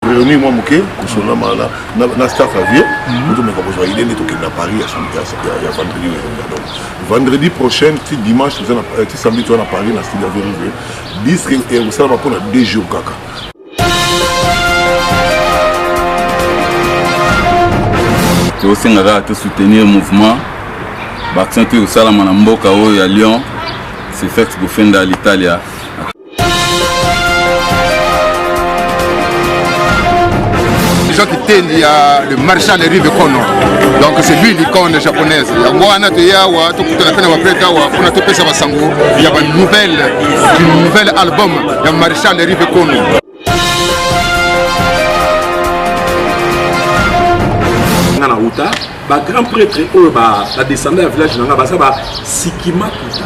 réunir mwa moke kosona maana na staff ya vie otomeka kozwa idée nde tokende na paris ya vendredi oyo elonga donc vendredi prochain ti dimanche eh, ti samedi toza na paris na style ya vérivé disque ekosalama mpo na deux jours kaka tosenga kaka tosoutenir mouvement baaction to ekosalama na mboka oyo ya lyon sefex bofenda l'italia Jean Kitendi ya le marchand de rive kono donc c'est lui l'icône japonaise yango wana toye awa tokutana mpe na baprete awa mpona topesa basango ya banouvelle du nouvel album ya marchand de rive kono na uta ba grand prêtre oyo ba descendant ya village na nga baza ba sikima kuta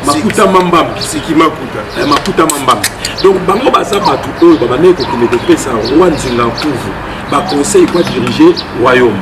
makuta mambam sikima kuta eh, makuta mambam donc bango baza bato oyo babandaki kokende kopesa roi nzinga nkuvu baconseil kwa dirige royaume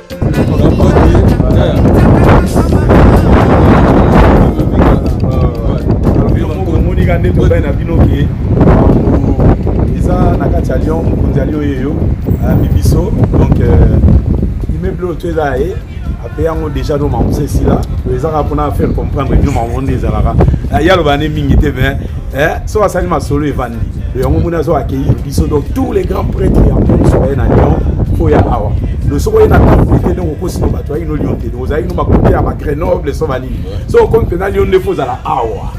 monika nde tobai na bino ke eza na kati ya lyon mokonzi ya lyon yeyo ayambi biso donc euh, immeuble oyo to eza ye ape yango déjà no mamusa esila ezaka mpona faire comprendre bino mamonde ezalaka yaloba ne mingi te mais eh, soki asali masolo evandi yango moni azo accueillir biso donc tous les grands prêtres ya monde soki baye na lyon fo ya awa lo soki oye na temple te ndenge okosi no bato ayaki no lyon te ozalaki no bakote ya bagrenoble so banini so okomi mpenza lyon nde fo ozala awa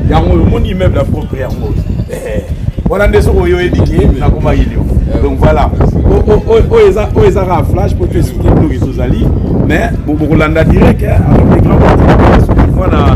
yango oyo omoni immeuble ya propre yango oyo eh, wana nde soki oyo oyebi ke nakomaki lyon donc voilà oyo eza kaka flash mpo toesplike biloko ezozali mais bokolanda direct eh, avec les grands mwana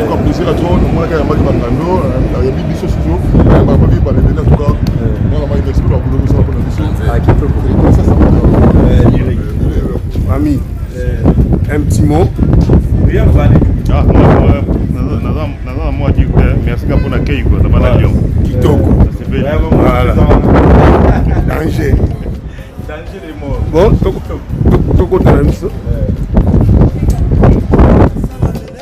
tuka plaisir à trop namonaka ya maki bangando ayebi biso susu ayamba babi balebeli en tout cas mwana maki d'expo bakulo mosala mpona biso ami un petit mot naza na mwa dire te merci ka mpona kei kota bana lion kitoko danger bon tokotana biso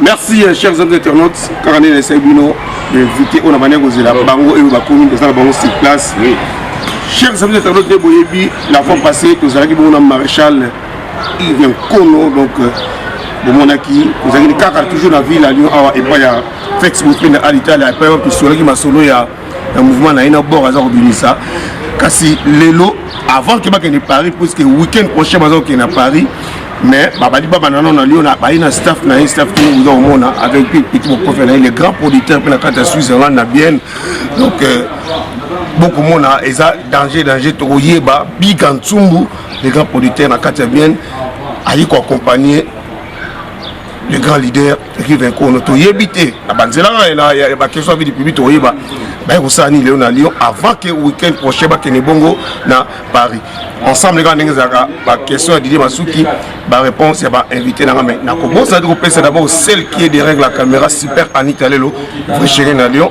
merci euh, chers amis internautes kaka nde naesai bino invité oyo na bandi ya kozela bango oyo bakomi eza na bango sur place chers amis internautes nde boyebi la fois passé tozalaki bongo na maréchal Yves Nkono donc euh, bomonaki ozalaki kaka toujours na ville ya Lyon awa epai ya Fex Mopenda à l'Italie epai wapi tosolaki masolo ya ya mouvement na ye na bord aza kobimisa kasi lelo avant ke bakende Paris puisque week-end prochain baza kokende na Paris mais babali babanda nano na Lyon baye na staff na ye staff tini oza komona avec petit bokofe na ye le grand producteur mpe na kati ya Switzerland na Bienne donc euh, bokomona eza danger danger tokoyeba biga nsumbu le grand producteur na kati ya bienne ayi koaccompagne le grand leader rive nkono toyebi te na banzela ya bakestion vidi public toyeba baye kosala nini lelo na lyon avant ke weekend prochain bakende bongo na paris ensemble kaka ndenge ezalaka bakestion ya didie masuki baréponse ya bainvité nanga mai nakobosana te kopesa d'abord celle qui est derrière la caméra super anita lelo vrai chéri na lyon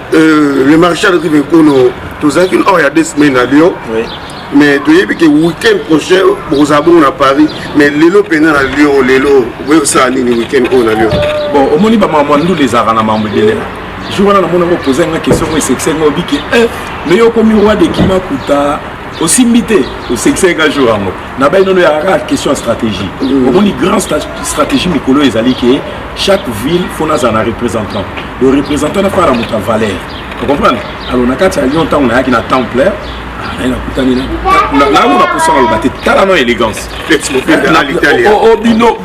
Euh, le maréchal rive ekono tozalaki or ya deux semaine na lyon oui. mais toyebi ke week-end prochain bokozala bongo na paris mais lelo mpenza na lyon lelo okoki kosala nini week-end oyo na lyon bon omoni bamamwa ndule ezalaka na mambo ebele jour wana namona ngo poza nga question ngo esekisa nga obiki eh, mais yo okomi roi de kima kuta osimbi te osekisa nga jour yango na bai nono yakaka question ya stratégie mm. omoni grand stratégie mikolo ezali ke chaque ville faut nazala na représentant le représentant nafaa na moto ya valeur ocomprendre alors na kati ya lyon ntango nayaki na temple naye nakutani nango naposa naloba te tala no élégance obino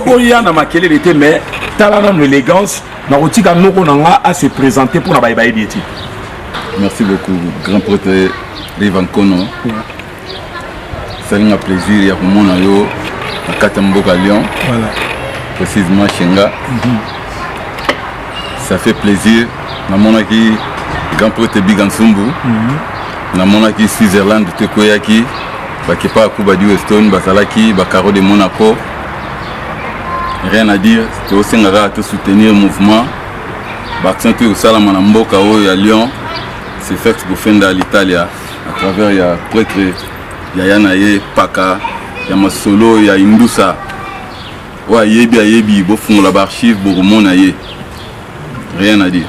boya na makelele te mais tala nano élégance nakotika noko na nga ase présente mpo na baye bayebi ete merci beaucoup grand prêtre levancono esali nga plaisir ya komona yo na kati ya mboka lyon voilà. précisement shenga mm -hmm. ça fait plaisir namonaki grand prêtre biga nsumbu mm -hmm. namonaki switzerland tokweyaki bakepa ya kuba du weston bazalaki bacaro de monaco rien à dire tosenga kaka tosoutenir mouvement baaction toyo kosalama na mboka oyo ya lyon sefex bofenda l'italia à travers ya pretre yaya na ye paka ya masolo ya indusa oyo ayebi ayebi bofungola baarchive bokomona ye rien à dire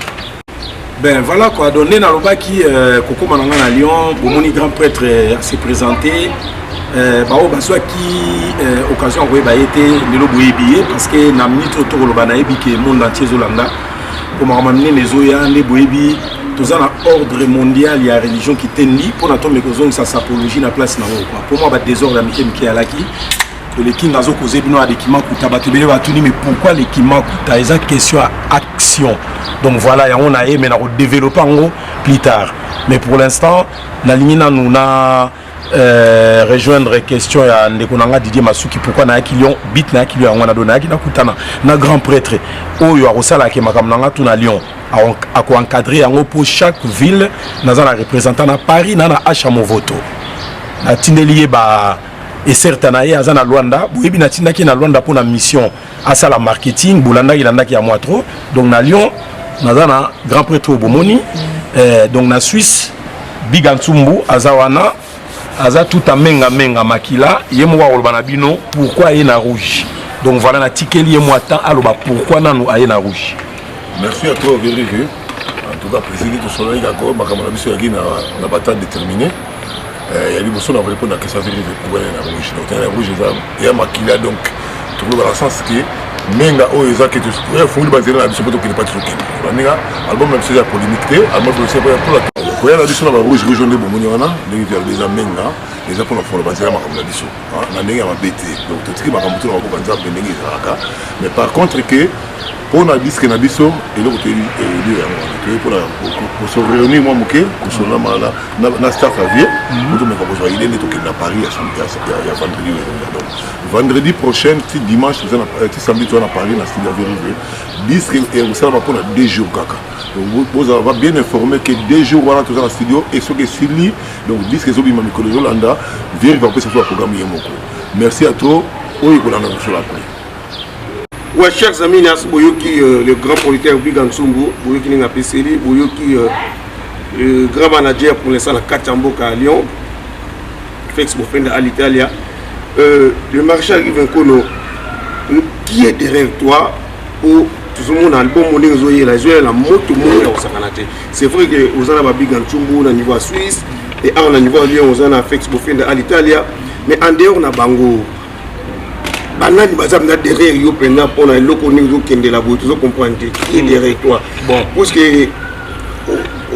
ben voilà quoi donc nde nalobaki euh, kokóma na ngai na lyon bomoni grand prêtre euh, se présente euh, baoyo bazwaki occasion ya koyeba ye te lelo boyebi ye parce que na minute oyo tokoloba nayebi ke monde entier ezolanda mpo makambo ya minene ezoya nde boyebi toza na ordre mondial ya religion kitendi mpo na tombe kozongisa sapologie na place na yango mpo mwa badesordre ya mike mike alaki lekinga azokoze bino ya lekimakuta bato ebele batuni mais pourquoi lekimakuta eza question ya action donc voilà yango na ye mais nakodeveloppe yango plus tard mais pour l'instant nalingi nanu na Euh, rejoindre question ya ndeko na nga Didier Masuki pourquoi nayaki Lyon bit nayaki Lyon yango wana do nayaki nakutana na grand prêtre oyo akosalaka makambo na nga tuna Lyon akoencadre yango mpo chaque ville naza na représentant na Paris na na Acha Movoto natindeli ye ba eserta na ye aza na Luanda boyebi natindaki na Luanda mpo na mission asala marketing bolandaki landaki ya mwa trop donc na lyon naza na grand prêtre oyo bomoni eh, donc na suisse biga nsumbu aza wana aza tout amenga menga makila ye moko akoloba na bino pourquoi aye na rouge donc voilà natikeli ye mwa temps aloba pourquoi nanu aye na rouge merci à toi verige en tout cas président tosololaki kako makambo na biso yaki na batade déterminé ya liboso na vole mpo na kesa vile ekubana na rouge donc tena ya rouge eza ya makila donc tokolobaka na sens ke menga oyo eza ke efungoli banzela na biso mpo tokende mpa tozokende baninga album na biso eza polémique te album biso mpola koya na biso na barouge rouge nde bomoni wana ndenge toyalobi eza menga eza mpona folo banzela makambo na biso na ndenge ya mabe te donc totiki makambo to na maboka nzambe ndenge ezalaka mais par contre ke mpo na diske na biso eloko toyebi elio yango wana toyebi mpona koso réunir mwa moke kosolola mala na staff ya vie mhm. otomeka kozwa ide nde tokende na paris ya vendredi oyo donc vendredi prochaine ti dimanche euh, ti samedi toza na paris na style ya vérivé diske ekosalama mpo na deux jours kaka bozala ba bien informé ke deux jours wana toza na studio e soki esili donc diske ezobima mikolo ezolanda vérivé akopesa biso baprogramme ye moko merci à trop oyo ekolanda kosolo après Ouais, chers amis, nas boyoki euh, le grand producteur Biga Nsumbu, boyoki ninga peseli, boyoki euh, le grand manager pour l'instant la Kachamboka à Lyon, Félix Bofenda à l'Italia. Euh, le marché arrive un kono. Qui est derrière toi pour tozomona album oyo ndenge ezoyela ezoyela moto moko ya kosakana te c'est vrai que oza na babiga ntumbu na niveau ya suisse e awa na niveau ya lyon oza na fex bofenda à l'italia mais en dehors na bango banani baza mpenza derrière yo mpenza mpo na eloko nini ozokendela boye tozo comprendre te qui est hmm. derrière toi bon parce que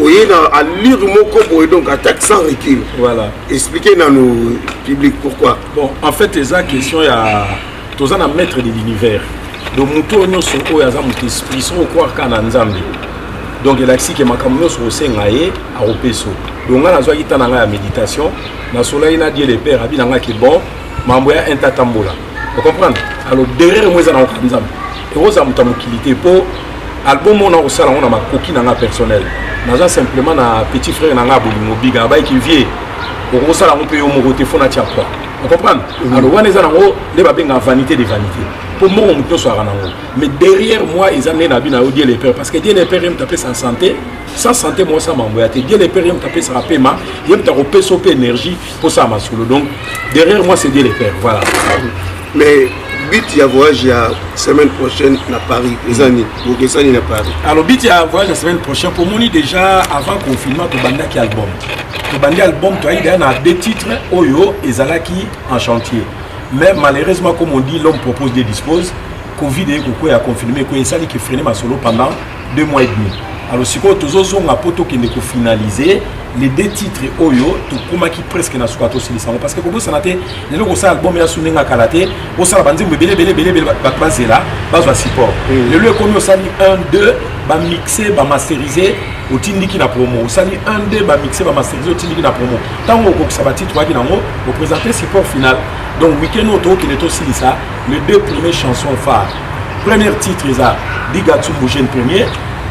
oye na allure moko boye donc attaque sans recul voilà expliquer nanu public pourquoi bon en fait eza question ya toza na maître de l'univers donc moto oyo nyonso oyo aza moto esprit soko okwaka na nzambe donc elakisi ke makambo nyonso osenga ye akopesa donc ngai nazwaki ntan na ngai ya méditation nasolaki na dieu le père abi na ngai ke bon mambo ya inter tambola o comprendre alors derrière yango eza na koka nzambe ekozala moto ya mokili te mpo album oyo nakosala yango na makoki na nga personnel naza simplement na petit frère na nga bolingo biga abayiki vie okosala yango mpe yo moko te fo natia poi ocomprendre mm. alors wana eza nango nde babengaka vanité de vanité mpo moko moto nyonso aka nango mais derrière moi eza nde na bi na yo dieu le père parce que dieu le père ye moto apesa santé sans santé mwasa mambo ya te dieu le père ye moto apesaka pema ye moto akopesa yo mpe énergie kosala masolo donc derrière moi c'est dieu le père voilà mais but ya voyage ya semaine prochaine na paris eza nini bokesani na paris alors but ya voyage ya semaine prochaine pomoni déjà avant confinement tobandaki album tobandi album toyaki deya na deux titres oyo ezalaki en chantier mais malheureusement comme on dit l'homme propose de dispose covid eye kokwea confirme ekoya esali kefrene masolo pendant deux mois et demi alors sikoyo tozozonga mpo tokende kofinalize les deux titres oyo tokomaki presque na suka tosilisa yango parce que kobosana te lelo kosala album ya su ndenge akala te osala banzembo ebele ebele ebele ebele bato bazela bazwa support mm. lelo ekomi osali 1 2 bamixe bamasterise otindiki na promo osali 1 2 bamixe bamasterise otindiki na promo ntango okokisa batitre oyaki nango opresente support final donc week-end oyo tokokende tosilisa les deux premiers chansons phare Premier titre eza Bigatsu Bougen premier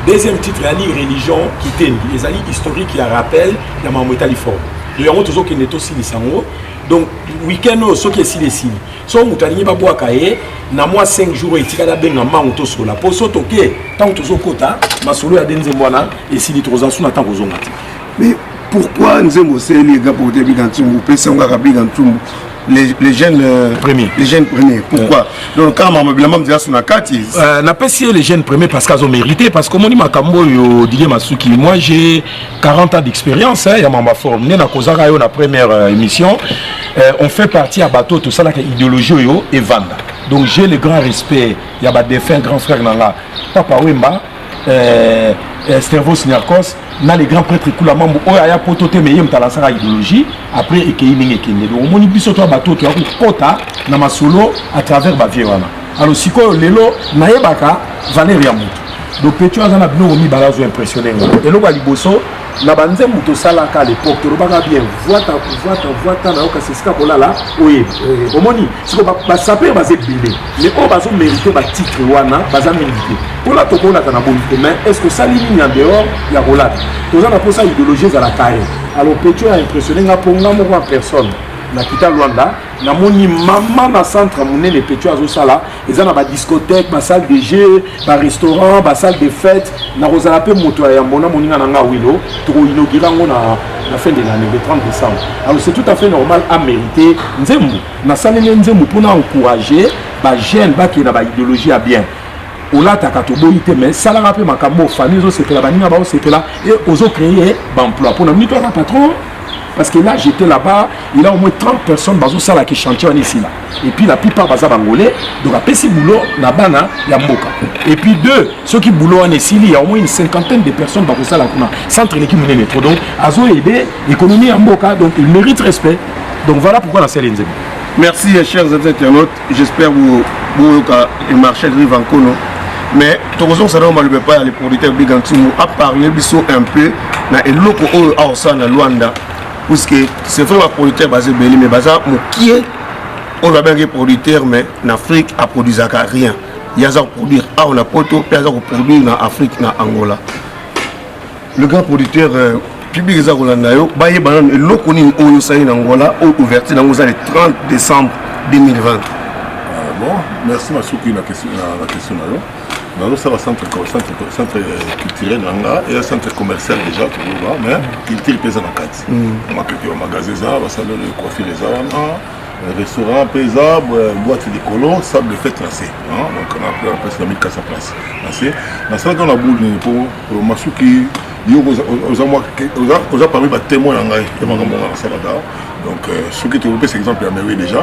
deuxième titre ezali religion kitendi ezali historique ya rappel ya makambo etali fort do yango tozokende tosilisa yango donc week-end oyo soki esili esili soki moto alingi babwaka ye na mwa 5 jours oyo etikali abenga mbango tosola mpo so toke ntango tozokota masolo ya de nzembo wana esili tokozala su na ntango kozonga te mais pourquoi nzembo oseli ega porte biga ntumbu opesi yango kaka biga ntumbu les, les jeunes euh, premiers les jeunes premiers pourquoi euh. donc kaka makambo bilamba mizela suna kati euh, napesi ye les jeunes premiers parce qu'azo mérité parce qu'omoni makambo oyo didie masuki moi j'ai 40 ans d'expérience hein, ya mamba forme nde nakozaka yo na première euh, émission euh, on fait partie ya bato tosalaka idéologie oyo evanda donc j'ai le grand respect ya badefin grand frère na nga papa wemba euh, euh, Stervos Niarcos na le grand prêtre Kula Mambo oyo aya poto te mais ye moto alansaka idéologie après ekeyi ndenge ekende donc omoni biso to bato toya kokota na masolo à travers bavie wana alors sikoyo lelo nayebaka valeur ya moto donc petio aza na biloko mibale azo impressionne nga eloko ya liboso na banzembo tosalaka lepoke tolobaka bien vwata vwata vwata na yo kasi esika kolala oyebi omoni siko basaper baza ebele mais oyo bazomerite batitre wana baza mingi te mpona tokolata na boni te mais estce osali nini en dehors ya kolata toza na mposa idéologie ezala kare alors petio ya impressionne nga mpo nga moko en personne na kita lwanda namoni mama na centre monene petio azosala eza na ba discothèque ba salle de jeu ba restaurant ba salle de fête nakozala mpe moto ya yambo na moninga na nga wilo tokoinaugure yango na na fin de l'année le 30 décembre alors c'est tout à fait normal a mérité nzembo nasaleli nzembo mpo na encourager ba jeune bakenda ba idéologie ya bien olataka toboyi te mais salaka mpe makambo oyo famille ezosepela baninga baosepela e ozocreye baemploi mpona mito aza patron parce que là j'étais là-bas il a au moins 30 personnes bazosala ki chantier wana esila et puis la plupart baza bangolais donc apesi boulot na bana ya mboka et puis deux soki boulot wana esili ya au moins une cinquantaine de personnes bakosala kuna centre eleki monene trop donc azo aide économie ya mboka donc il mérite respect donc voilà pourquoi nasali nzembo merci chers internautes j'espère boyoka marché rive en kono mais tokozongisa nao maloba epai ya le producteur bigantumu aparle biso un peu na eloko oyo aosala na luanda puisque c'est vrai ba producteur baza ebele mais baza mokie oyo babengaki producteur mais na afrique aproduisaka rien ye aza koproduire awa na poto mpe aza koproduire na afrique na angola le grand producteur euh, public eza kolanda yo bayeba nano eloko nini oyo osali na angola oyo ouverture nango eza le 30 décembre 2020 ah bon merci masuki na question na yo nazosala centre culturel na nga eya centre commercial déjà toloba mais culture mpe eza na kati mapepe ya magasin eza basalelo ya coiffure eza wana restaurant mpe eza boite likolo sable de fete na se donc napesi na 1400 place na se nasalaka na boule nini mpo masuki yo oza parmi batemoin na ngai ya makambo nga nasalaka donc soki tokopesa exemple ya mewe déjà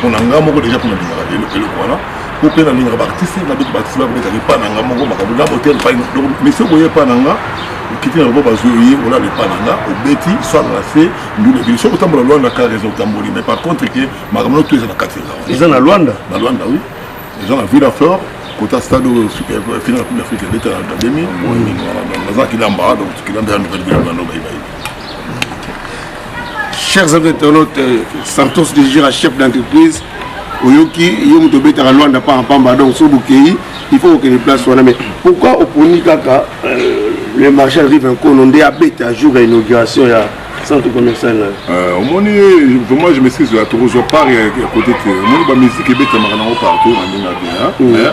pona nga moko deja pona lingaka eloko wana po mpe nalingaka baartiste na bete baartiste bakobetaka epa na nga moko makambo na motel epai donc mesi okoye epa na nga okiti na lobo bazwi oye olala epa na nga obeti swala na se ndula ebili soki otambola lwanda ka raison otamboli mais par contre ke makambo na to eza na kati eza eza na lwanda na lwanda oui eza na ville aflore kota stade oyo euh, final coupe d'afrique ebeta na 2000 nazalaki lamba donc kilamba ya nouvelle ville ya nouvelle chers amis internautes euh, santos de gira chef d'entreprise oyoki yo moto obetaka lwanda paka pamba donc soki bokei il faut kokende place wana mais pourquoi oponi kaka euh, le marchal rive nkono nde abeta jour ya inauguration ya centre commercial nayo euh, omoni vraiment je maîtrise la tokozwa part ya kote te omoni bamusike ebetamaka nango partout na ndenge na bien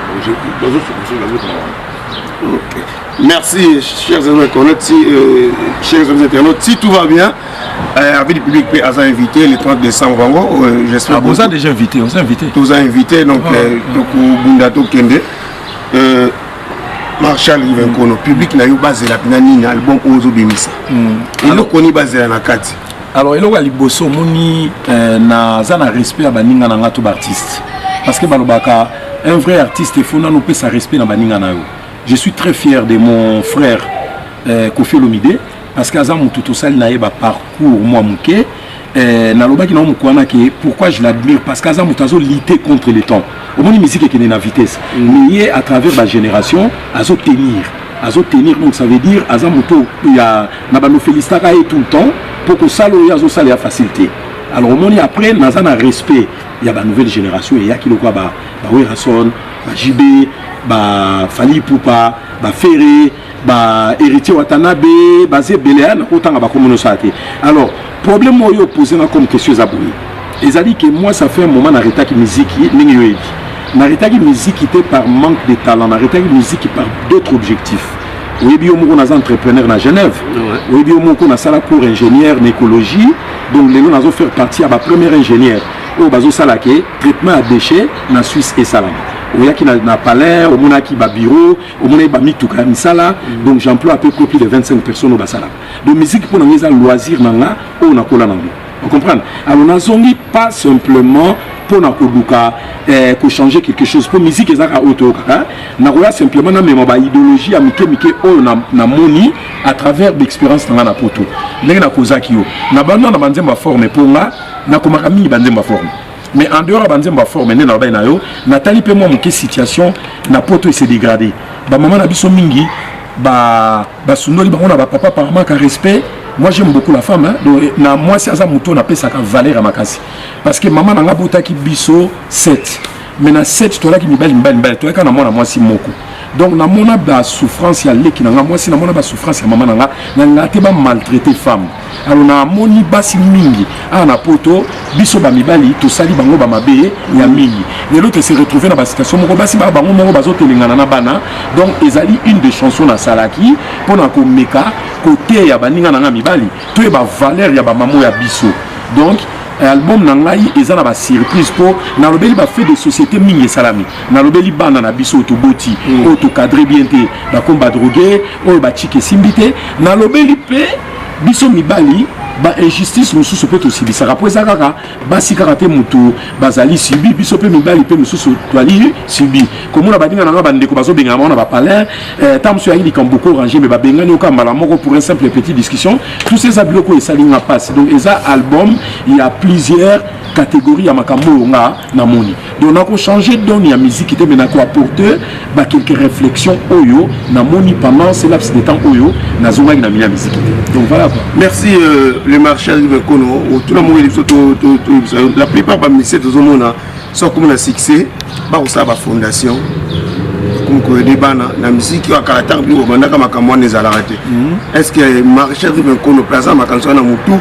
Merci, chers internautes, si, euh, chers internautes, si tout va bien, euh, avec le public à invité le 30 décembre, vraiment, euh, j'espère. Ah, vous avez déjà invité, vous avez invité. Vous avez invité, donc, ah, euh, ah. donc, Bundato Kende. Euh, marshal rivenkono mm. public na yo bazelaka na nini album oyo ozobimisa mm. eloko nini bazela na kati alors eloko ya liboso omoni euh, naza na respect ya baninga na nga to baartiste parce que balobaka Un vrai artiste, il faut nanu pesa respect na baninga na yo. Je suis très fier de mon frère euh, Kofi Olomide parce que aza mutu tosali na ye ba parcours mwa muke euh, nalobaki na mukwana ke pourquoi je l'admire parce que aza mutu azo lutter contre le temps. Omoni musique ekende na vitesse. Mm. Mais ye à travers ba génération azo tenir. Azo tenir donc ça veut dire aza mutu ya na ba no felicitaka ye tout le temps pour que sala oyo azo sala ya facilité. Alors omoni après naza na respect ya ba nouvelle generation eyaki lokola ba ba Werrason ba JB ba Fally Ipupa ba Ferre ba Héritier Watanabe baza ebele ya nakotanga bakombo nyonso ya te alors problème oyo opose nga comme question eza boye ezali ke moi ça fait un moment naretaki miziki ndenge yo oyebi naretaki miziki te par manque de talent naretaki miziki par d'autres objectifs oyebi yo moko naza entrepreneur na genève oyebi yo moko nasala cours ingénieur na écologie Donc lelo nazo faire partie ya ba premier ingénieur oyo bazo sala ke traitement ya déchet na Suisse esalama. oyaki na, na palais omonaki babureau omonaki bamituka ya misala mm. donc j'emploie à peu près plus de 25 personnes oyo basalaka donc musique mpo na ngai eza loisir na nga oyo nakola nango ocomprendre alors nazongi pas simplement mpo na koluka eh, kochanger quelque chose mpo musique ezalaka oyo toyokaka nakoya simplement namema baidéologie ya mike mike oyo namoni na à travers d'expérience na nga na poto ndenge nakozaki yo na banda na banzembo ya forme mpo nga nakomaka mingi banzembo ya forme mais en dehors ya banzembo ya forme nde nalobaki na yo natali mpe mwa moke situation na poto ese dégrade bamama na biso mingi basundoli ba bango na bapapa par manque ya respect moi j'aime beaucoup la femme hein? donc na mwasi aza moto napesaka valeur ya makasi parce que mama na nga botaki biso 7 mais na set toalaki mibali mibali mibali toyaki kaka na mwana mwasi moko donc namona basouffrance ya leki na ngai mwasi namona basouffrance ya mama na ngai na ngaa te bamaltraite femme alors namoni basi mingi awa na poto biso bamibali tosali bango bamabe ya mingi lelo tose retrouve na basituation moko basi baa bango moko bazotelengana na bana donc ezali une de chanson nasalaki mpo na komeka koteya baninga na ngai mibali toyeba valeur ya bamamo ya biso donc album na ngai eza na basurprise mpo nalobeli bafait de société mingi esalami nalobeli bana na biso oyo toboti mm. oyo tokadre bien te bakomi badroge oyo bachike esimbi te nalobeli mpe biso mibali bainjustice mosusu mpe tosilisaka mpo eza kaka basi kaka te motu bazali subi biso mpe mibali mpe mosusu twali subi komona baninga na ngai bandeko bazobengana bango na bapalin Eh, ta mosusu yangi likambo boko orange mais babengani oka mbala moko pour un simple petit discussion tout ça eza biloko esali nga mpasi donc eza album ya plusieurs catégorie ya makambo oyo nga namoni donc nakochange don ya miziki te mais nakoapporte bakelke réflexion oyo namoni pendant ce laps de temps oyo nazongaki na mini ya miziki te donc voilà quoi merci euh, le marchal vekono otuna moko biso toyebisa yo la plupart bamisie tozomona so akomi na succès bakosala bafondation akomi koyede bana na miziki oyo akala ntango bino bobandaka makambo wana ezalaka te mhm. est ce que marchel rive nkono mpe aza na makanisi wana motu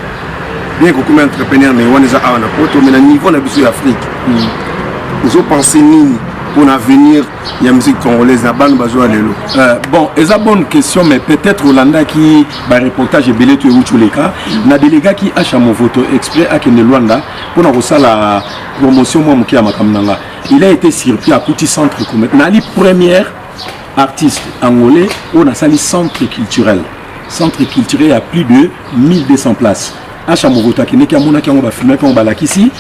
bien kokomi entrepreneur mais wana eza awa na poto mais na niveau na biso ya afrique mhm. ozopense nini mpona avenir ya musique congolaise na bana bazwa lelo euh, bon eza bonne question mais peut-être olandaki bareportage ebele to euti oleka na delegaki asha movoto exprès akende luanda mpona kosala promotion mwa moke ya makambo na nga il a été surpris akuti centre commercial nali première artiste angolais oyo nasali centre culturel centre culturel ya plus de 1200 places asha mokoto akendeki amonaki yango bafilmaki yango balakisi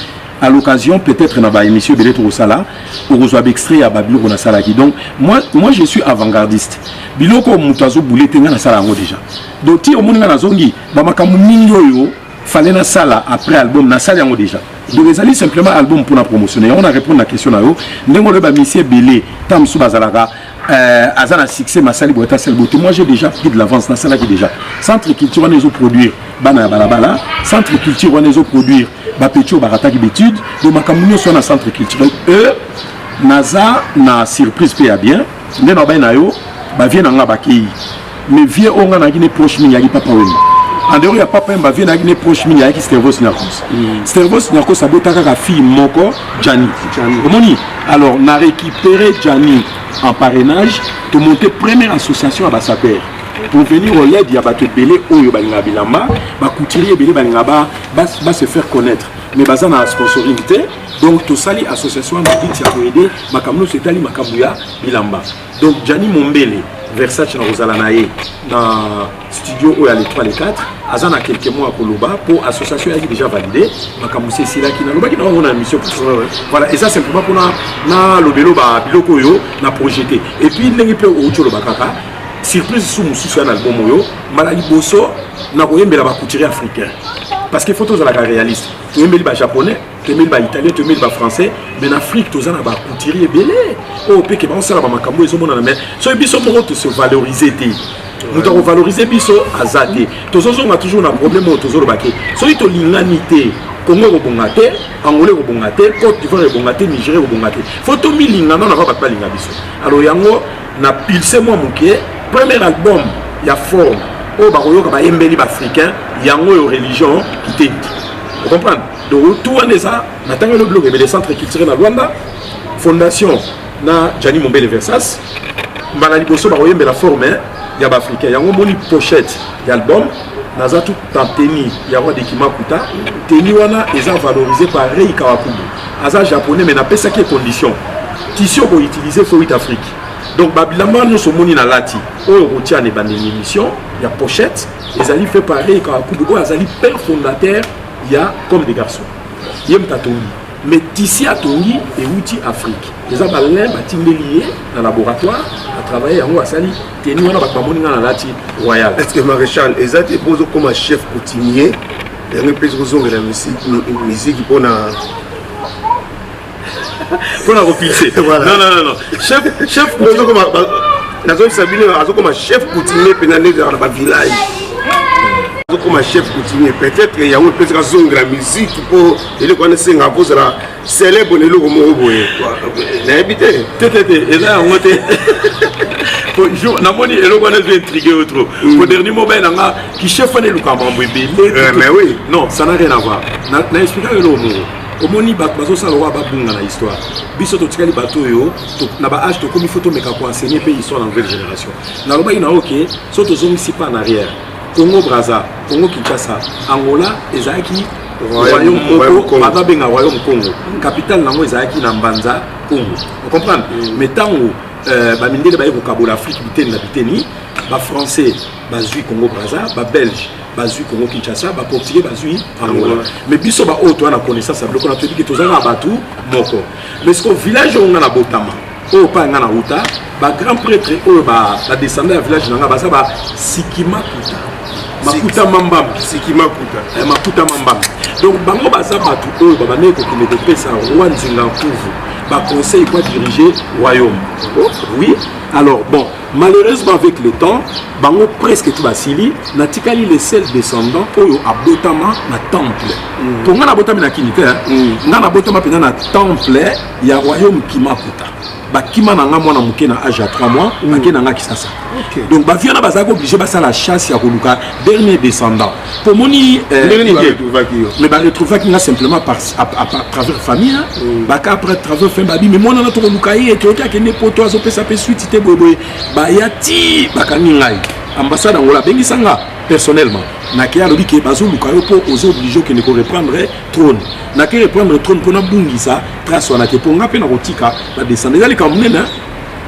à l'occasion peut-être na ba émission ebele tokosala okozwa baextrait ya babiloko nasalaki donc moi, moi je suis avant-gardiste biloko moto azoboule te ngai nasala yango déjà donc ti omoni ngai nazongi bamakambo mingi oyo fallait na sala après album na sala yango déjà donc ezali simplement album pour na promotionner yango na répondre na question na yo ndenge olobi ba misie ebele ntango mosusu bazalaka euh, aza na succès masali boyata sel bote moi j'ai déjà pris de l'avance nasalaki déjà centre culture wana ezoproduire bana ya balabala centre culture wana ezoproduire bapeti oyo barataki bétude donc makambo nyonso wana centre culturel e naza na surprise mpe ya bien nde na bai na yo bavie na nga bakei mais vie oyo nga nayaki ne proche mingi yaki papa wemba andero ya papa wemba vie nayaki ne proche mingi ayaki stervos nyakos mm. stervos nyakos abota kaka fille moko jani omoni alors na récupéré jani en parrainage tomonte première association ya basapere pour venir au led ya bato ebele oyo balingaka bilamba bacouturier ebele balingaka ba se faire connaître mais baza na sponsoring te donc tosali association ya mabiti ya koede makambo nyonso etali makambo ya bilamba donc jani mombele versace na kozala na ye na studio oyo ya le 3 le 4 aza na quelque mois koloba mpo association eyaki déjà valide makambo se esilaki nalobaki na yango na émission voilà eza simplement mpona nalobelo ba biloko oyo na projete et puis ndenge mpe outi oloba kaka surprise su mosusu ya na album oyo mbala liboso nakoyembela bacouturier africain parce que faut tozalaka réaliste toyembeli bajaponais tomeli ba italien tomeli ba français mais na afrique toza na ba couturier ebele oyo oh, peke baosala bamakambo ezomonana mais soki biso moko tose valorise te moto akovalorise biso aza te tozozonga toujours na problème oyo tozoloba te soki tolingani te congo ekobonga te angola ekobonga te cote divoire ekobonga te nigeria ekobonga te fo tomilinga nano ava bato balinga biso alors yango na pulse mwa moke premier album ya forme oyo bakoyoka bayembeli baafricain yango oyo religion kitendi ocomprendre donc tout wana eza natangeli biloko ebele centre culturel na rwanda fondation na jani mombele versas mbala liboso bakoyembela forme ya baafricain yango omoni pochette ya album naza tout en teni ya roi de kimakuta teni wana eza valorise par rei kawakubu aza japonais mais napesaki condition tisi okoutilize fo 8 afrique donc babilamba nyonso omoni na lati oyo okotia na ebandeli émission ya pochette ezali fait par rei kawakubu oyo azali père fondateur ya comme des garçons ye moto atongi mais tisi atongi euti afrique eza balin batindeli ye na laboratoire atravaille yango asali teni wana bato bamoni ngai nalati royal est ce que maréchal eza te mpo ozokoma chef coutumier yango epesi kozongela miziki mpo na mpo na kopilse non non non chef chef nazongisa bino azokoma chef coutumier mpena nde ezalaka na bavillage azokoma chef coutumier peut-être yango epesaka zongela musique mpo eleko wana esengaka mpo ozala célèbre na eloko moko boye nayebi te te te te eza yango te namoni eloko wana ezo intrigue yo trop mm. po dernier mobile na nga kichef wana elukaka mambo ebele eh, mais oui non ça n'a rien à voir na explika yo eloko moko omoni bato bazosala lokola babunga na histoire biso totikali bato oyo na ba age tokomi fo tomeka koenseigner mpe histoire na nouvelle génération nalobaki na oke so tozongisi pas na arrière congo braza congo kinshasa angola ezalaki royaume moko bato abenga royaume congo capitale na yango ezalaki na mbanza congo ocomprendre mm. mais ntango euh, bamindele baye kokabola afrique biteni na biteni bafrançais bazwi congo braza babelge bazwi Congo Kinshasa ba portugais bazwi Angola mais biso ba oyo toa na connaissance ya biloko na toyebi ke toza na bato moko mais siko village oyo nga na botama oyo pa nga na wuta ba grand prêtre oyo ba descendant ya village na nga baza ba sikima kuta makuta mambamba sikima kuta eh, makuta mambamba donc bango baza bato oyo babandaki kokende kopesa roi nzinga nkuvu baconseil po adirige royaume oh, oui alors bon Malheureusement avec le temps, bango presque tout basili, natikali le seul descendant oyo abotama na temple. Mm. Tonga na botami na kini te, hein? mm. nga na botama pena na temple ya royaume Kimakuta. bakima na nga mwana moke na age ya 3 mois mm. ake na nga kisasa okay. donc baviana bazalaki oblige basala chasse ya koluka dernier descendant tomoni eh, ndenge nini baretrouvaki yo mais baretrouvaki nga simplement par travers famille mm. baka après travers fin babi mais mwana na tokoluka ye toyoki akende poto azopesa mpe suite te boyeboye baya ti bakangi ngai ambassade yango abengisa nga personnellement nake alobi ke bazoluka yo mpo oza oblige okende koreprendre trône nake reprendre trône mpo nabungisa trace wana te mpo nga mpe nakotika badescende eza likambo monene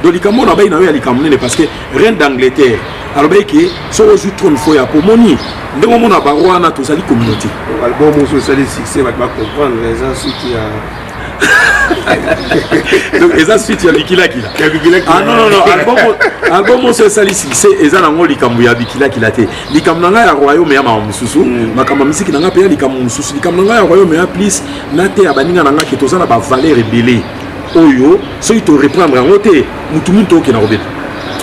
donc likambo na bai na yo ya likambo nene parce que reine d'angleterre alobaki ke soki ozwi trone fo ya pomoni ndenge omona bango wana tozali communauté album mosusu esali succès bato bacomprendre eza suki ya donc eza suite ya bikilakila ah, non, non, non. album oso esali succès eza nango likambo ya bikilakila te likambo na ngai ya royaume ya mawa mosusu mm. makambo ya misiki na ngai mpe ya likambo mosusu likambo na ngai ya royaume ya plus nateya baninga na ngai ke toza na bavaleur ebele oyo soki to reprendre yango te mutu mingi tokokenda kobeta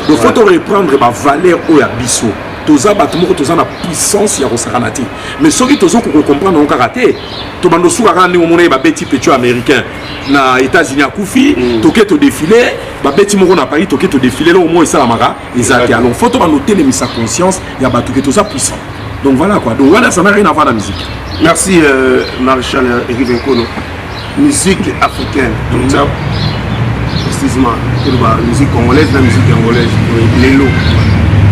donc faut to reprendre bavaleur oyo ya biso toza bato moko toza na puissance ya kosakana te mais soki tozokoka kocomprendre yango kaka te tobanda osuka kaka ndenge omona ye babeti petio américain na états-unis akufi mm. toke todefile babeti moko na paris toke todefile eloko moko esalamaka eza te alors faut to bando telemisa conscience ya bato ke toza puissant donc voilà quoi donc wana ça n'a rien à voir na musique merci euh, maréchal euh, erive nkono musique africaine donc ça précisément toloba musique congolaise na musique angolaise lelo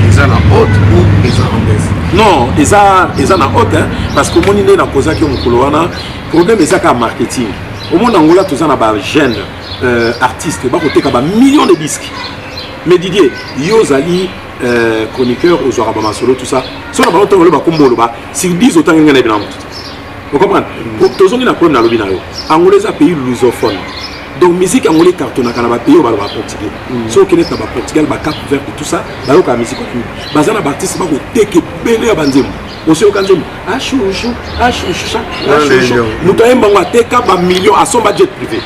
eza na haute ou eza en baisse non eza eza na haute hein, parce que omoni nde nakozaki yo mokolo wana problème eza kaka marketing omoni angola toza na bagene euh, artiste bakoteka bamillion de disque Mais Didier, yo ozali euh, chroniqueur ozwaka ba masolo tout ça. So na bango tango loba kombo loba, si biso tangi ngana bina mutu. Vous comprenez? Tozongi na problème na lobi na yo. Angola eza pays lusophone. donc musique angolais ecartonaka na bapays oyo baloba portugais mm. soki okendete na baportugal bacape verte tout ça bayokaka musique wana baza na baartiste bakoteka ebele ya banzembo osi oyoka nzembo ashushu ah, ashushu ah, ashushu ah, moto ayemba yango ateka bamillion asomba jet privé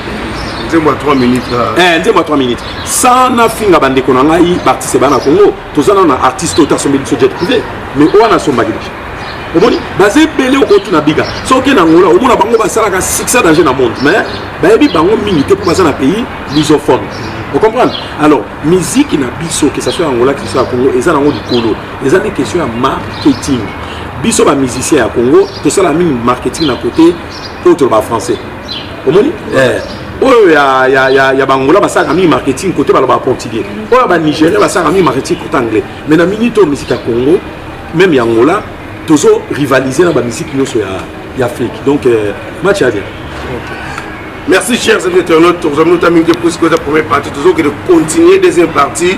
nzembo ya 3 minutes eh, nzembo ya 3 minutes sana finga bandeko na ngai baartiste bana congo toza nano na artiste oyo tasombi biso jet privé mais oyo wana asombaki deja omoni baza ebele okotuna biga soki na ngola omona bango basalaka succès danger na monde mais bayebi bango mingi te mpo baza na pays lusophone ocomprendre alors miziki na biso ke saso ya ngola ke saso ya congo eza nango likolo eza nde question ya marketing biso ba musicien ya congo tosala mingi marketing na kote oyo toloba français omoni eh. oyo ya, ya, ya, ya bangola basalaka mingi marketing kote baloba portugais oyo ya banigérien basalaka mingi marketing kote anglais mais na minute oyo misiki ya congo meme ya angola tozo rivaliser na bamisiki nyonso ya, ya afrique donc euh, match ya bien okay. merci chers internautes tozamini otamingi te puisque oza première partie tozokende continuer deuxième partie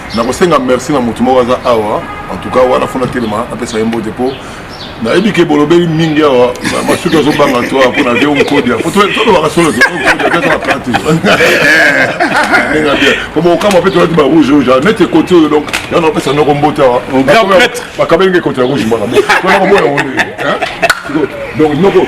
nakosenga merci na motu moko aza awa en tout cas wana fona telema napesa ye mbote mpo nayebi ke bolobeli mingi awa masuki azobanga to mpo na veo nkodia tolobaka solo ndenge bien po bokama mpe tolati ba rouge rouge neti ekoti oyo donc yana opesa noko mbote awa bakabeli nge ekoti ya rouge mbaka mpo nakoboya ngo ndenge donc noko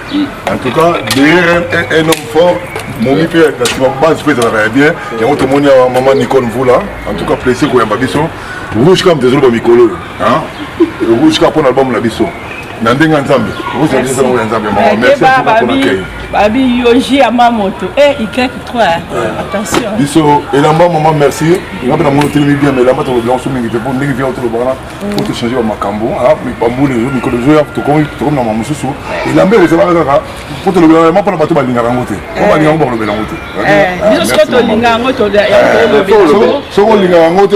en tout cas dr un homme fort momi mpe na nsima base mpe ezalaka ya bien yango tomoni awa mama nicole mvula en tout cas presse koyamba biso rouge kam tezoloba mikolo oyo rouge ka mpo na album na biso na ndenge ya nzambe okosabisasango ya nzambe mama merci mpona kei babi yoji ya ma moto e y 3 attention biso elamba mama merci nga mpe na moni otelemi bien mais elamba tolobi yango so mingi te mpo ndenge via otolobaka po mm. tochange bamakambo ah, bambula ezo mikolo ezoya tokomi na mama mosusu elamba ekozalaka kaka po tolobelaka yango mpona bato balingaka yango te po eh. balinga yango bakolobela yango te soki olingaka yango te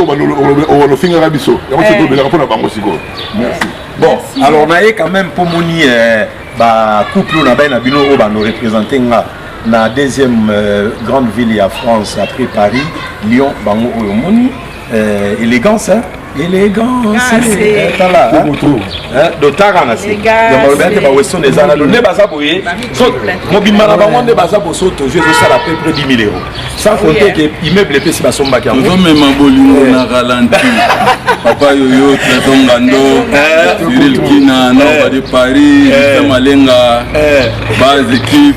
olofingaka biso yango soki eh. tolobelaka mpona bango sikoyo merci bon alors naye quand même mpo moni eh, bacouple oyo na bai na bino oyo bano représente nga na deuxième euh, grande ville ya france après paris lyon bango oyo omoni Eh, elegance hein? elegance eh, tala hein? dotaka na se yamaloba yake baweston eza na lone baza boye mobimba na bango nde baza boso tozu ezosala peu près 10 000 euros sans compter ke immeuble epesi basombaki yango ozomema bolingo na ralenti papa yoyo trésor ngando eh. cyril kina na badi paris malenga base équipe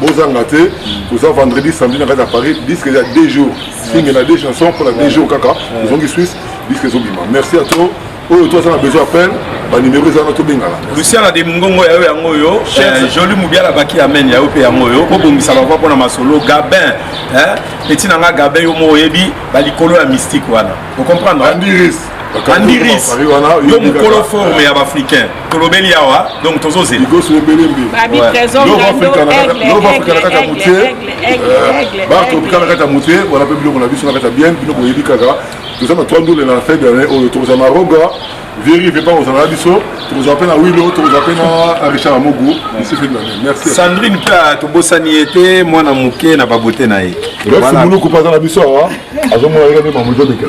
bozanga te toza vendredi samedi na kati ya paris disque eza deux jours singe na deux chansons mpona deux jours kaka tozongi suisse disque ezobima merci à toi oyo to aza na besoin appel banimero ezana tobengana luciana de mongongo yayo yango oyo eh, joli mobiala baki amen yayo mpe yango oyo kobongisa bava mpona masolo gabin eh, peti na nga gabin yo mo oyebi balikolo ya mystique wana ocomprendre andiris yo mokolo forme ya baafricain tolobeli awa donc tozozela kaka motie batropika na kati ya motie wana mpe biloko na biso na kati ya bien bino boyebi kaka toza na 3 ndule na fin d'année oyo tokozala na roga viri vepa kozala na biso tokozala mpe na wilo tokozala mpe na richard amogu isi fin d'année merci sandrine mpe tobosani ye te mwana moke na babote na ye muluku mpe aza na biso awa azomona ndenge mpe mamoto obika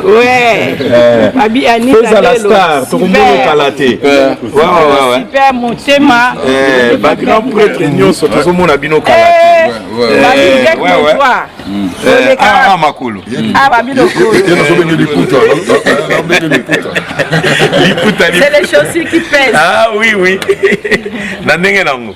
peza la star tokomona kala te super motema bagrand prêtre nyonso tozomona bino kala te makolo nazobenge liputa liputa c'est les chaussures qui pèsent ah oui oui na ndenge nango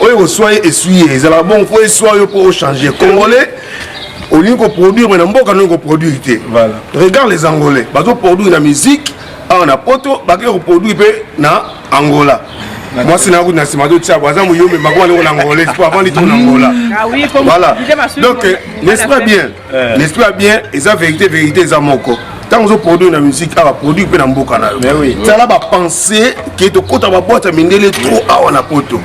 oyo ekoswa ye eswi ye ezalaka bongo mpo eswa yo mpo ochange congolais olingi koproduire mai na mboka ndenge koproduire te regarde les angolais bazoproduire na musique awa na poto bakei koproduire mpe na angola mwasi na na nsima totia bo aza moyombe makoa ndeko na angola espo avant litoko na angola voilà donc n'est-ce pas bien eh. l'esprit ya bien eza vérité vérité eza moko ntango ozoproduire na musique awa produire mpe na mboka na yo tala bapense ke tokota baboite ya mindele trop awa na poto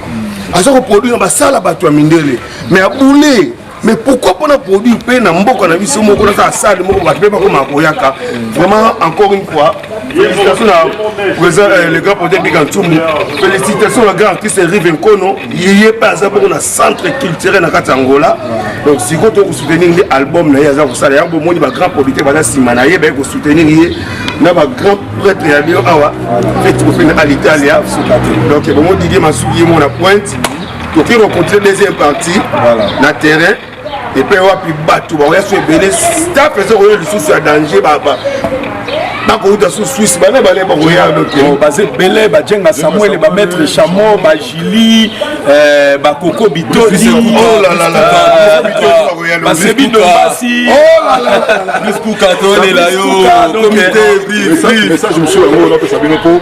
aza koproduire na basala bato ya mindele mais aboule mais pourquoi mpona produire mpe na mboka na biso moko naza asade moko bato mpe bakoma koyaka vraiment encore une fois Félicitations à président euh, le grand projet Big Antumbu. Félicitations à grand artiste Rive Nkono. Il est passé pour le centre culturel na kati Angola. Donc si vous voulez soutenir l'album na yaza ko sala yango moni ba grand producteur baza sima na ye ba ko soutenir ye na ba grand prêtre ya bio awa. Fait ko fina à l'Italie. Donc bon Didier Masuki mon pointe. Donc il rencontre deuxième partie voilà. na terrain epai wapi bato bakoya so ebele staff eza koya lisusu ya danger bakouta su swisse bana bale bakoya oh, baza ebele bajenga samuel bamaître chamo bajili eh, bakoko bitoli oh eh, basebi dombasi oh message mosusu yango napesa bino mpo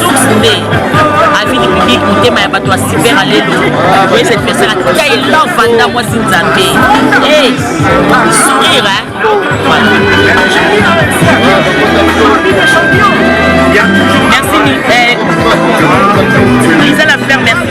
source nde avis du public motema ya bato ya super alelo oye cette personne atika elan vanda mwasi nzambe e sourire merci eh, lisa la fleur merci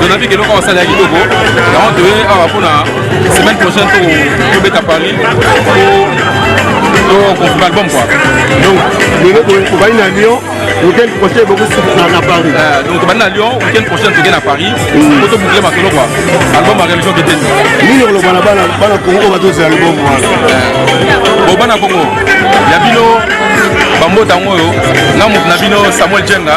donavik eloko awa asala ya kitoko yango toye awa mpona semaine prochaine tobeta paris tokonfirme album kua donc lelo tobandi na lyon weekend prochain bokosukisa na paris euh, donc tobandi na lyon weekend prochain toke na paris po tobukle masolo kua album ya religion keteni nini oloba na bana bana kongo oyo batozela album wana euh, bo bana kongo ya bino bambota yango oyo na moto na bino samuel jenga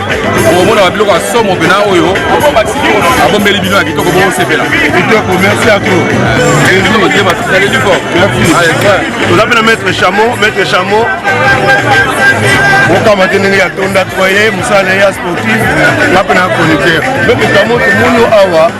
okomona babiloko ya somo mpena oyo abombeli bino ya kitoko bokosepela kitoko merci à trop tosaleli fo toza mpe na maître chamo maître chamo okama te ndenge ya tonda toye mosala na ye ya sportif nga mpe na chroniqueur donc chamo tomoni awa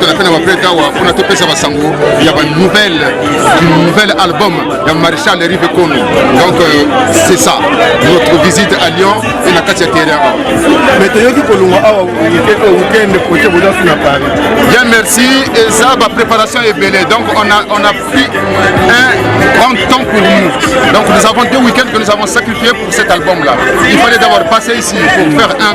tozala mpe na baprete awa mpona topesa basango ya banouvelle du nouvel album ya maréchal rive kono donc euh, c'est ça notre visite à lyon e na kati ya terrain awa mais toyoki kolongwa awa weekend projet bodasu na paris bien merci eza bapréparation ebele donc on a, on a pris un grand temps pour nous donc nous avons deux week-ends que nous avons sacrifié pour cet album là il fallait d'abord passer ici pour faire un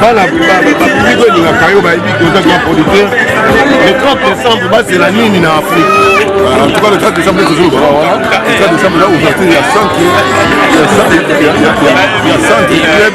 bana bapubliki olingaka yo bayebi ke oza grand producteur le 30 décembre bazela nini na afrique en tout cas le 30 décembre ezozoloba wana le 30 décembre eza ouverture ya centre ya centre club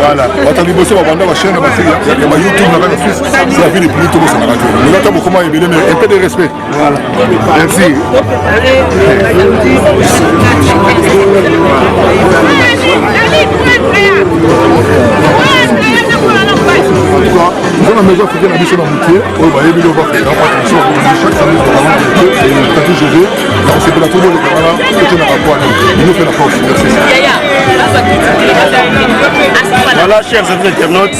Voilà. Bato liboso babanda bachaine ya basi ya ba YouTube na kaka suisse c'est la vie les plus tôt ça na radio. Mais là t'as beaucoup moins bien mais un peu de respect. Voilà. Merci. mpona maison africaine na biso na moke oyo bayebi loko afrika attention chaque semaine tozala moke tati jose nakosepela to boleka wana ote na bapoana bino mpe na force voilà chers amis internautes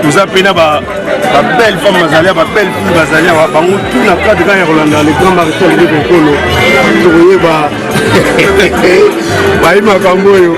toza mpe na babelle femme bazali ya babelle fille bazali awa bango tu na kati kaka ya kolanda le grand maréchal de konkolo tokoyeba bayi makambo oyo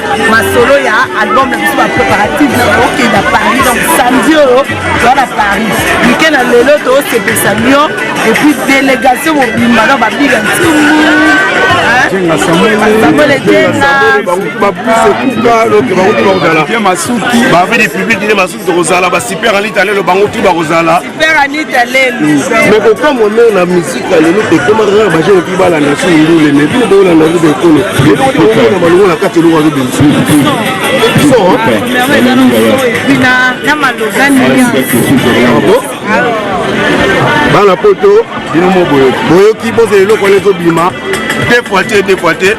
masolo ya album na biso bapréparative na okenda paris donc samedi oyo oh, toza na paris mike na lelo tosepesa mio epuis délégation mobimba na babiga ntimu samuel etenga tokozala ba super anita lelo bango tu bakozala super anita lelo mm. mais kokamwa meo na misika lelo ekomaka kaka bajene mpe balanda su ndule mais bino boolanda nde baekolo elokoona balongo na kati eloko azobimisa bana poto bino mo boyoki boyoki bozela eloko wana ezobima deux fois te deux fois te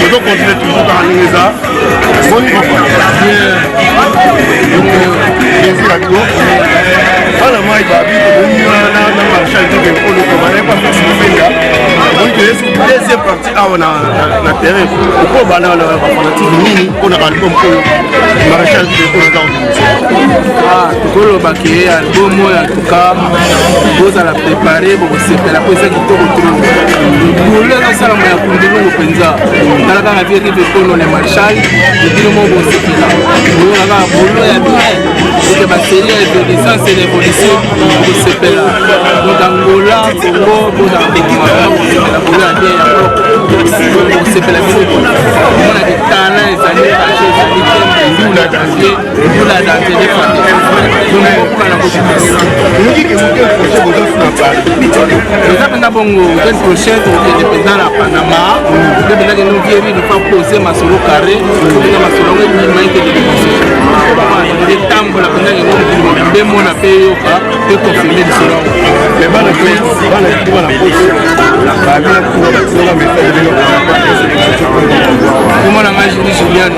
tozo continue toujours kaka ndenge eza boni plaisir ya bigo bana mai babi tokomi na marché alitoke olokoma naye bafasi mofenga donc toyesi deuxième partie awa na terrain oko bana na bafanatisme nini mpo na album oyo marché alitoke oyo eza tokoloba ke album oyo en tout cas bozala prépare bokosepela mpo ezaki bolo ezosalama ya kundulungu mpenza tala kaka vie rive kono le marchal ebino mo bosepela boyoka kaka bolo ya bien oke baseli ya evoluissance et l'évolution bosepela donc angola congo bozala kokoma bosepela bolo ya bien yango bosepela biso omona ke talent ezali rache ezali te ndula eza mpenza bongo ken prochaine tokokende mpenza na panama nde mpenza kende ovieri lofa pose masolo carré obenga masolo yango ebima ekende liboso etambola mpenza yango mokili mobimbe mona mpe eyoka mpe konfirme lisolo yango komona ngai juli juliano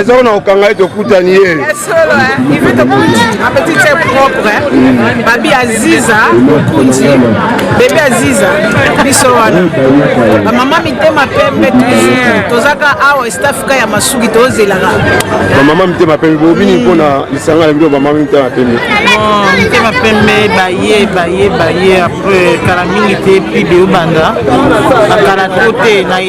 eza wana okanga ye tokutani ye babi aziza mokundi bebe aziza biso wana bamama mitema pembe tozaka awa estafrika ya masuki tozelaka bamama mitema pembe bobini mpo na lisanga na bino bamama mitema pembe mitema pembe baye baye baye apres kala mingi te pide obanda bakala to te